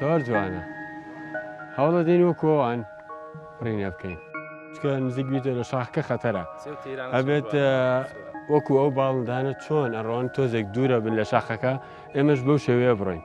زۆر جوانە هەوڵە دێن وە کۆوان ڕینە بکەین چکە نزیک بیتە لە شاخکە خەتەرە ئەبێت وەکو ئەو باڵندانە چۆن ئەڕۆن تۆزێک دوورە بن لە شاخەکە ئێمەش بەو شێوەیە بڕۆین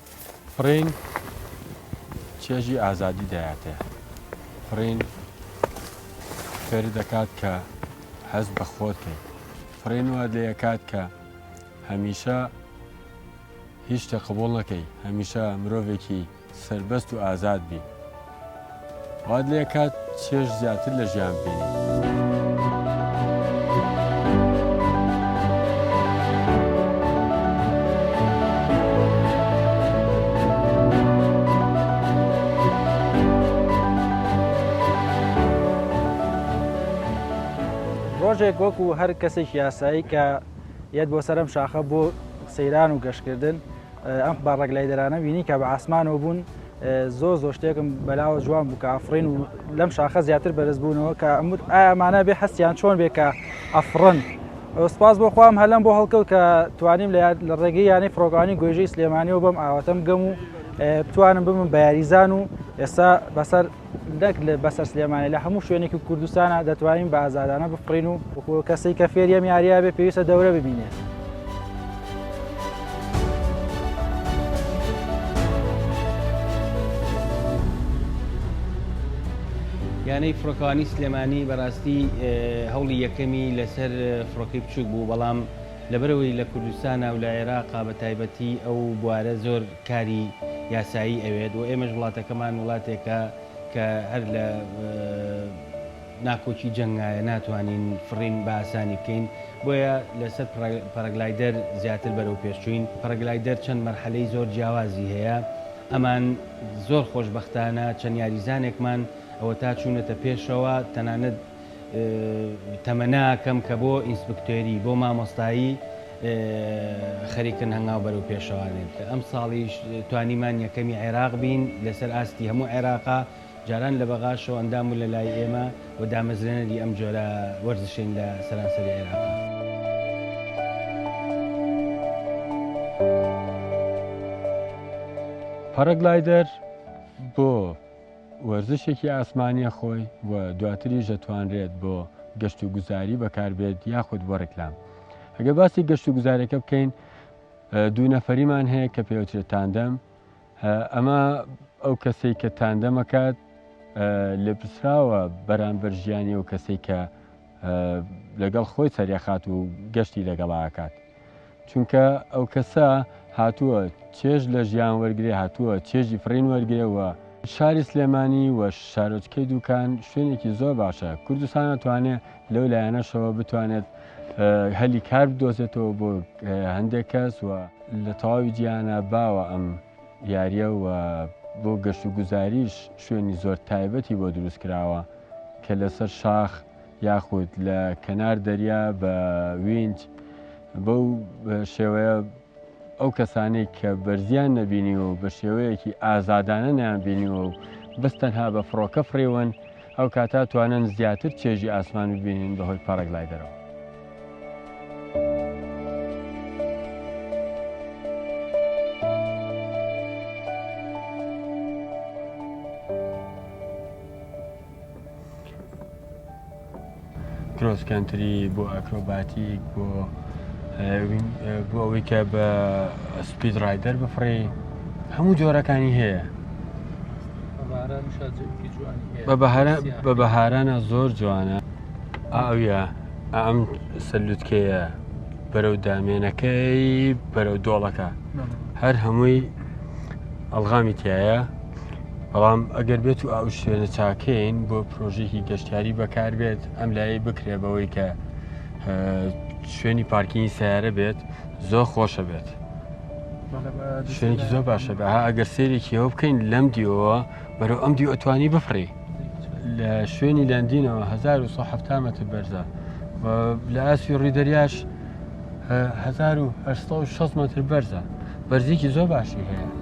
فڕین چێژی ئازادی دەیاتێ. فڕین فێرت دەکات کە هەست بە خۆت کەیت. فڕین وات لێ ئەکات کە هەمیشە هیچ شتێ قبوڵ نەکەی، هەمیشە مرۆڤێکی سەربەست و ئازاد بی. وات لێ کات چێژ زیاتر لە ژیان بینی. ڕۆژێک وەکو هەر کەسێک یاسایی کە یەت بۆ سەرم شاخە بۆ سەیران و گەشتکردن ئەم با ڕێگلایدەرانە بینی کە بە ئاسمانەوە بوون زۆر زۆر شتێکم بەلاوە جوان بوو کە ئەفرین و لەم شاخە زیاتر بەرز بوونەوە کە ئەموت ئامانە بێ حەستیان چۆن بێ کە ئەفرن سپاس بۆ خۆم هەلم بۆ هەڵکەوت کە توانیم لە ڕێگەی یانەی فڕۆگانی گۆژی سلێمانیەوە بەم ئاواتەم گەم و بتوانم بمم بە یاریزان و ئێستا بەسەر نەک لە بەسەر سلێمانی لە هەموو شوێنێکی کوردستانا دەتوانین بە ئازادانە بفڕین و وەکو کەسەی کە فێری ئەم یاریە بێ پێویستە دەورە ببینێت. یانەی فڕۆکەوانی سلێمانی بەڕاستی هەوڵی یەکەمی لەسەر فڕۆکەی بچووک بوو بەڵام لەبەرەوەی لە کوردستانە و لە عێراقا بە تایبەتی ئەو بوارە زۆر کاری یاسایی ئەوێت و ئێمەش وڵاتەکەمان وڵاتێکە کە هەر لە ناکۆکی جەنگایە ناتوانین فڕین بە ئاسانی بکەین بۆیە لەسەر پەرەگلایدەر زیاتر بەرەو پێشچوین پەرەگلایدەر چەند مەرحەلەی زۆر جیاوازی هەیە ئەمان زۆر خۆشبەختانە چەند یاریزانێکمان ئەوەتا چوونەتە پێشەوە تەنانەت تەمەنا کەم کە بۆ ئینسپکتۆری بۆ مامۆستایی خەریکن هەنگاو بەرەو پێشەوانێن کە ئەم ساڵیش توانیمان یەکەمی عێراق بین لەسەر ئاستی هەموو عێراقا جاران لە بەغاشەوە ئەندام و لە لای ئێمە و دامەزرێنەری ئەم جۆرە وەرزشین لە سەرانسەری عێراقا. پاراگلایدەر بۆ وەرزشێکی ئاسمانییە خۆی و دواتریش دەتوانرێت بۆ گەشت و گوزاری بەکاربێت یاخود بۆ ڕێکلام ئەگەر باسی گەشت و گوزارەکە بکەین دوو نەفەریمان هەیە کە پێوترێت تاندەم ئەمە ئەو کەسێک کە تاندەمەکات لێپسراوە بەرامبەر ژیانی و کەسێک کە لەگەڵ خۆی سەرێخات و گەشتی لەگەڵاکات چونکە ئەو کەسە هاتووە چێژ لە ژیان وەرگێ هاتووە چێژی فڕین وەرگێەوە شاری سلێمانی و شارۆچکەی دوکان شوێنێکی زۆر باشە کوردستان ناتوانێت لەو لایەنەشەوە بتوانێت هەلی کار بدۆزێتەوە بۆ هەندێک کەس و لە تەواوی جیانە باوە ئەم یاریە و بۆ گەشت و گوزاریش شوێنی زۆر تایبەتی بۆ دروست کراوە کە لەسەر شاخ یاخود لە کەنار دەریا بە وینج بەو شێوەیە ئەو کەسانەی کە بەرزیان نەبینیوە و بە شێوەیەکی ئازادانە نیان بینیوە و بەس تەنها بە فڕۆکە فڕێون ئەو کاتا توانن زیاتر چێژی ئاسمان ببینین بەهۆی پەڕێک لای دەرەوە. کرۆسکەنتری بۆ ئەکرۆباتیک بۆ بۆ ئەوەی کە بە سپید ڕایدەر بفڕێ هەموو جۆرەکانی هەیە بە بەهارانە زۆر جوانە ئاویە ئەم سەلوتکەیە بەرەو دامێنەکەی بەرەو دۆڵەکە هەر هەمووی ئەلغامی تایە بەڵام ئەگەر بێت و ئەو شوێنە چاکەین بۆ پرۆژێکی گەشتیاری بەکار بێت ئەم لای بکرێ بەوەی کە شوێنی پارکینی سیارە بێت زۆر خۆشە بێت شوێنێکی زۆر باشە بە ئەگەر سێرێکیەوە بکەین لەم دیەوە بەرەو ئەم دیوە توانی بفڕی لە شوێنی لەندینەوە 1970 متر بەرزە لە ئاسوی ڕی دەریاش 1960 متر بەرزە بەرزێکی زۆر باشی هەیە.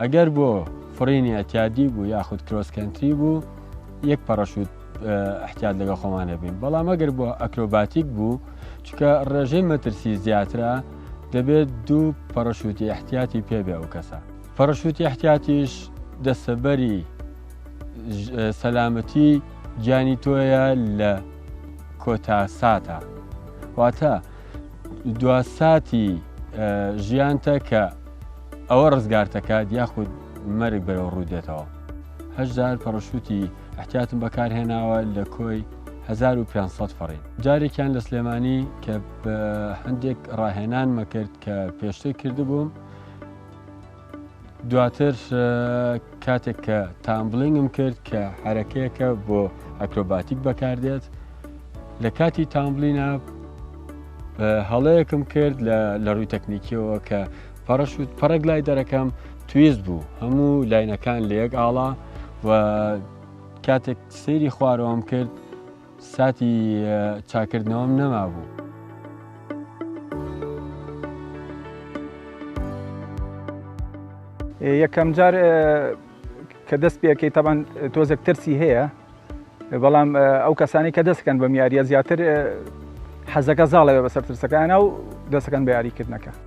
ئەگەر بۆ فڕینی ئەتیادی بوو یاخود کرۆس کەنتری بوو یەک پەڕەشوت احتیات لەگە خۆمان هەبین بەڵام ئەگەر بۆ ئەکرۆباتیک بوو چکە ڕێژەی مەترسی زیاترە دەبێت دوو پەڕەشوتی احتیاتی پێبێ ئەو کەسە پەڕەشوتی احتیاتیش دەسەبەری سەلامەتی گیانی تۆیە لە کۆتا ساتە واتە دوا ساتی ژیانتە کە ئەوە ڕزگارتەکات یاخود مەرگ بەرەوە ڕوودێتەوە هەشدار پەڕشوتی احتیاتم بەکارهێناوە لە کۆی 1500 فڕین جارێکیان لە سلێمانی کە هەندێک ڕاهێنانمە کرد کە پێشتر کردبووم دواتر کاتێک کە تامبلینگم کرد کە حرەکەیەکە بۆ ئەکرۆباتیک بەکاردێت لە کاتی تامبلینا هەڵەیەکم کرد لە ڕووی تەکنیکیەوە کە پەڕەشوت پەڕک لای دەرەکەم تویست بوو هەموو لاینەکان لە یەک ئاڵا و کاتێک سەیری خوارەوەم کرد ساتی چاکردنەوەم نەمابوو. یەکەم جار کە دەست پێکەی تەبان تۆزێک ترسی هەیە بەڵام ئەو کەسانی کە دەستکەن بەم یاریە زیاتر حەزەکە زاڵەوە بەسەر ترسەکانە و دەستەکەن بە یاریکردنەکە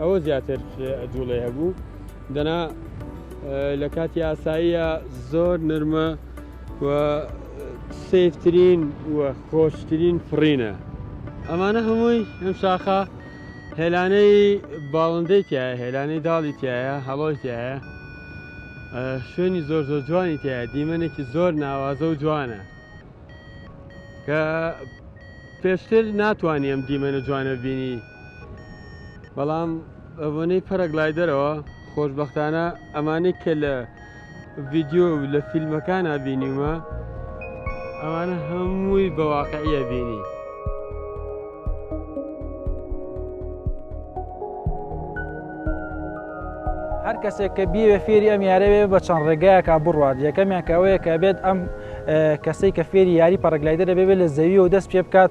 ئەوە زیاتر جوڵێ هەبوو دەنا لە کاتی ئاساییە زۆر نرمە و سفترین و خۆشترین فڕینە ئەمانە هەمووی ئەم شاخە هێلانەی باڵندەی تایە هێلانەی داڵی تایە هەڵۆی تایە شوێنی زۆر زۆر جوانی تایە دیمەنێکی زۆر ناوازە و جوانە کە پێشتر ناتوانیم دیمەنە جوانە بینی بەڵام بەبۆنەی پەرەگلایدەرەوە خۆشببختانە ئەمانەی کە لە ڤیددیو و لە فیلمەکان بینیومە ئەوانە هەمووی بەواقعە بینی. هەر کەسێک کە بیوێ فێری ئەم یارەوێ بە چەند ڕێگایەکە بڕوات یەکەمیان کەوەیە کە بێت ئەم کەسەی کە فێری یاری پەڕگلایدە دەبێت لە زەوی و دەست پێ بکات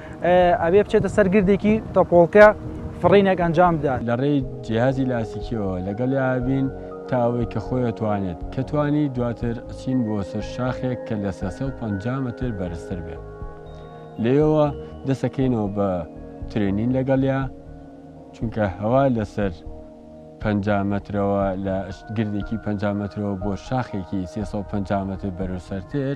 ئەبێ بچێتە سەر گردێکی تەپۆڵکە فڕینێک ئەنجام بدات. لە ڕێی جیهازی لاسیکیەوە لەگەڵیا ئەبین تا ئەوەی کە خۆی ئەتوانێت. کە توانی دواتر ئەچین بۆ سەر شاخێک کە لە سێ سەد و پەنجا مەتر بەرزتر بێت. لێیەوە دەست ئەکەینەوە بە ترێنین لەگەڵیا چونکە هەوا لە سەر پەنجا مەترەوە لە گردێکی پەنجا مەترەوە بۆ شاخێکی سێ سەد و پەنجا مەتر بەرزسەرتر،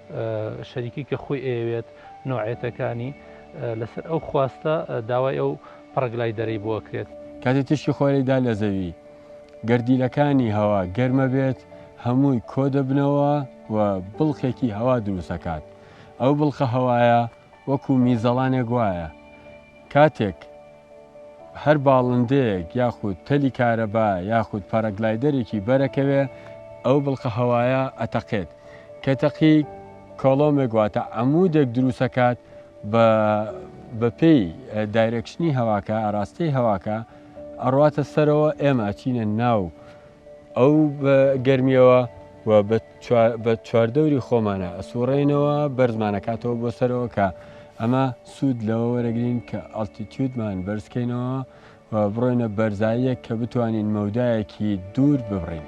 شەریکی کە خۆی ئەیەوێت نۆعێتەکانی لەسەر ئەو خواستە داوای ئەو پڕگلای دەرەی بۆ ئەکرێت. کاتێ تیشکی خۆری دا لە زەوی، گەردیلەکانی هەوا گەرمە بێت هەمووی کۆ دەبنەوە و بڵقێکی هەوا دروست ئەکات. ئەو بڵقە هەوایە وەکوو میزەڵانێک وایە کاتێک هەر باڵندەیەک یاخود تەلی کارەبا یاخود پاراگلایدەرێکی بەرەکەوێ ئەو بڵقە هەوایە ئەتەقێت کە تەقی کۆڵۆمێک واتە عەمودێک دروستەکات بە بەپێی دایرەکشنی هەواکە ئاراستەی هەواکە ئەڕاتە سەرەوە ئێمە ئەچینە ناو ئەو گەرمیەوە و بە بە چواردەوری خۆمانە ئەسووڕێینەوە بەرزمان ئەکاتەوە بۆ سەرەوە کە ئەمە سوود لەوە وەرەگرین کە ئەڵتیتیودمان بەرزکەینەوە و بڕۆینە بەرزاییەک کە بتوانین مەودایەکی دوور ببڕین.